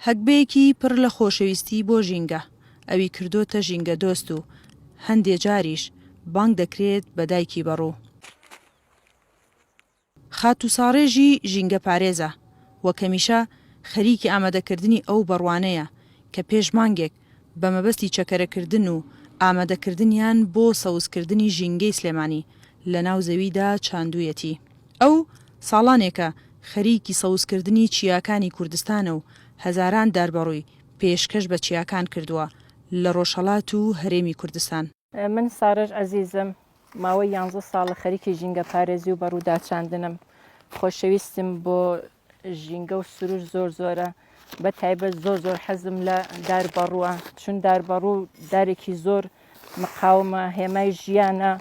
هەگبەیەکی پڕ لە خۆشەویستی بۆ ژینگە ئەوی کردۆتە ژینگەدۆست و هەندێ جاریش بانگ دەکرێت بە دایکی بەڕوو. خاتووساڕێژی ژینگەپارێزە و کەمیشە خەریکی ئامادەکردنی ئەو بەڕوانەیە کە پێش مانگێک بە مەبەستی چەکەرەکردن و ئامادەکردنیان بۆ سەوزکردنی ژینگەی سلێمانی لەناو زەویدا چاندوویەتی. ئەو ساڵانێکە خەریکی سەوزکردنی چیاکانی کوردستانە و هەزاران داربەڕووی پێشکەش بە چیاکان کردووە لە ڕۆژهەڵات و هەرێمی کوردستان. من سارەش عەزیزم، ماوەی یانزە ساڵە خەریکی ژینگەپارێزی و بەڕووداچاندنم. خۆشەویستیم بۆ ژینگە و سروش زۆر زۆرە بە تایبەت زۆر زۆر حەزم لە دار بەڕووە چون دار بەڕوو دارێکی زۆر مقاومە هێمای ژیانە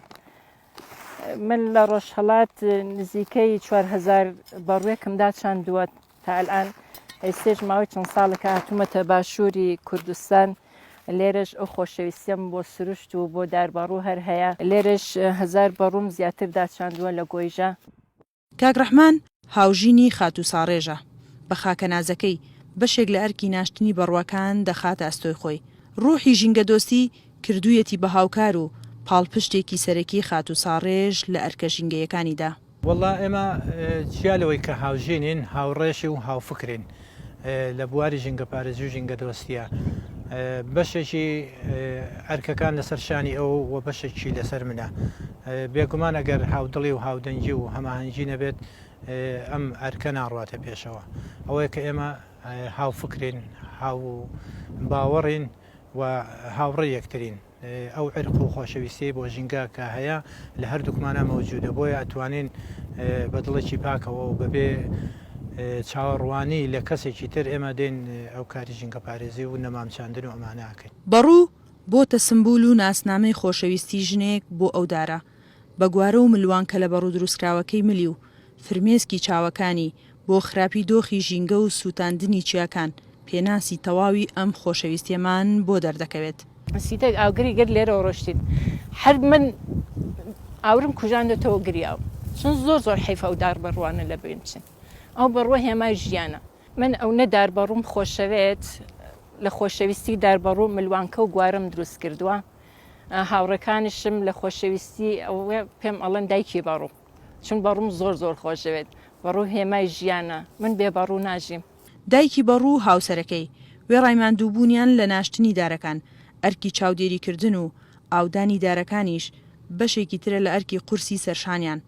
من لە ڕۆژهڵات نزیکەی 4هزار بەڕوێکم دا چندووە تا الان ئەیسێش ماوەی چەند ساڵەکە هاتوومەتە باشووری کوردستان لێرەش ئەو خۆشەویستیم بۆ سروشت و بۆ دار بەڕوو هەر هەیە لێرەش هزار بەڕووم زیاتر داچندووە لە گۆیژە کاک ڕەحمان هاوژینی خاتوو ساڕێژە، بە خاکە نازەکەی، بەشێک لە ئەرکی ناشتنی بەڕوەکان دەخاتە ئەستۆی خۆی. ڕووحی ژینگەدۆستی، کردوویەتی بە هاوکار و پاڵپشتێکی سەرەکی خاتوو ساڕێژ لە ئەرکە ژینگەیەکانیدا. وەڵڵا ئێمە جیا لەوەی کە هاوژینین، هاوڕێشین و هاوفکرین. لە بواری ژینگەپارێزی و ژینگەدۆستییە بەشێکی ئەرکەکان لەسەر شانی ئەو و بەشێکی لەسەر منە بێگومان ئەگەر هاودڵی و هاودەنگی و هەماهەنگی نەبێت ئەم ئەرکە ناڕاتە پێشەوە ئەوەیە کە ئێمە هاوفکرین هاو باوەڕین و هاوڕێ یەکترین ئەو عیرق و خۆشەویستیەی بۆ ژینگە کە هەیە لە هەردووکمانا مەوجودە بۆیە ئەتوانین بە دڵێکی پاکەوە و بەبێ چاوەڕوانی لە کەسێکی تر ئێمە دێن ئەو کاری ژینگە پارێزی و نەمام چاندن و ئەمانە ئەکەین. بەڕوو بۆتە سمبول و ناسنامەی خۆشەویستی ژنێک بۆ ئەو دارە بە گوارە و ملوانکەلە بەڕوو دروستکراوەکەی ملی و فرمێسکی چاوەکانی بۆ خراپی دۆخی ژینگە و سووتاندنی چیاکان، پێناسی تەواوی ئەم خۆشەویستیەمان بۆ دەردەکەوێت. سیتەک ئاگری گەر لێرەوە ڕۆشتین هەر من ئاورم کوژاندەتەوە گریاوم چون زۆر زۆر حەیف ئەو دار بەڕوانە لە بین بچن ئەو بەڕوە هێمای ژیانە. من ئەونە دار بەڕوم خۆشەوێت لە خۆشەویستی دار بەڕو ملوانکە و گوارەم دروست کردوە هاوڕێکانیشم لە خۆشەویستی ئەوە پێم ئەڵێن دایکی بەڕو. چون بەڕووم زۆر زۆر خۆشەوێت. بەڕوو هێمای ژیانە. من بێ بەڕوو ناژیم. دایکی بەڕوو و هاوسەرەکەی، وێڕای ماندووبوونیان لە ناشتنی دارەکان، ئەرکی چاودێریکردن و ئاودانی دارەکانیش بەشێکی ترە لە ئەرکی قورسی سەرشانیان،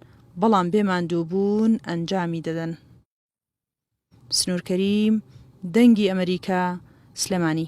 بەڵام بێ ماندووبوون ئەنجامی دەدەن. سنوور کەریم، دەنگی ئەمەریکا، سلێمانی.